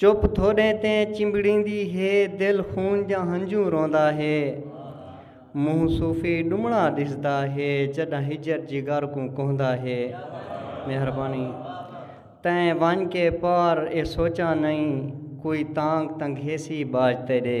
چپ تھوڑیں تے چمبڑیندی ہے دل خون جاں ہنجوں روندا ہے منہ صوفی ڈمڑا ڈسدا ہے جڈاں ہجر جگر کوں کہندا ہے مہربانی تیں ونج کے پار اے سوچاں نئیں کوئی تانگ تنگھیسی باج تیڈے۔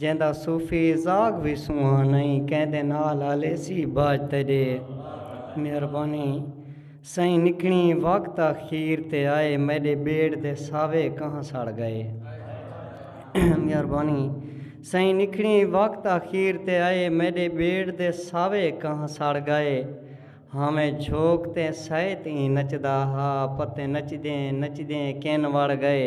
جیندا صوفی زاغ وی سونہاں نئیں کیندے نال ہلیسی باج تیڈے مہربانی سئیں نکھنی وقت آخیر تے آئے میڈے بیڑ دے ساوے کہاں سڑ گئے مہربانی سئیں نکھنی وقت آخیر تے آئے میڈے بیڑ دے ساوے کہاں سڑ گئے ہاویں جھوک تے سائے تئیں نچدا ہا پتے نچدیں نچدیں کین وڑ گئے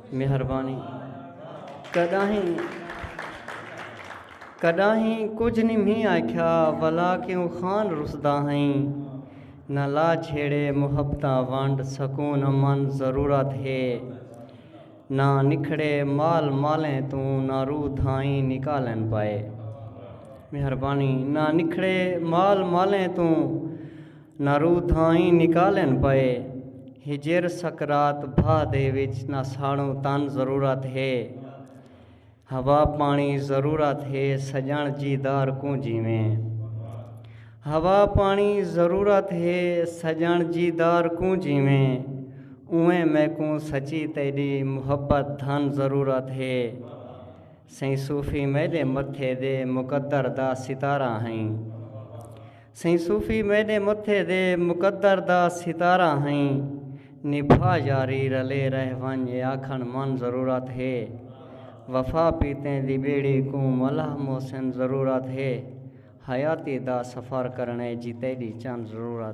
مہربانی کڈاہیں کڈاہیں کجھ نی مھی آکھیا ولا کیوں خان رسدا ہئیں نہ لا چھیڑے محبتاں ونڈ سکون امن ضرورت ہے نہ نکھڑے مال مالیں توں نہ روح دھائیں نکالن پائے مہربانی نہ نکھڑے مال مالیں توں نہ روح تھائیں نکالن پئے ہجر سکرات بھا دے وچ نہ ساڑوں تن ضرورت ہے ہوا پاݨی ضرورت ہے سڄݨ جی دار کوں جیویں ہوا پاݨی ضرورت ہے سڄݨ جی دار کوں جیویں اونویں میکوں سچی تیݙی محبت دھن ضرورت ہے سئیں صوفی میݙے متھے دے مقدر دا ستارہ ہئیں سئیں صوفی میݙے متھے دے مقدر دا ستارہ ہئیں نبھا یاری رلے رہ ونڄ اے آکھݨ من ضرورت ہے وفا پیتیں دی ٻیڑی کوں ملاح محسن ضرورت ہے حیاتی دا سفر کرݨ اے جی تیݙی چن ضرورت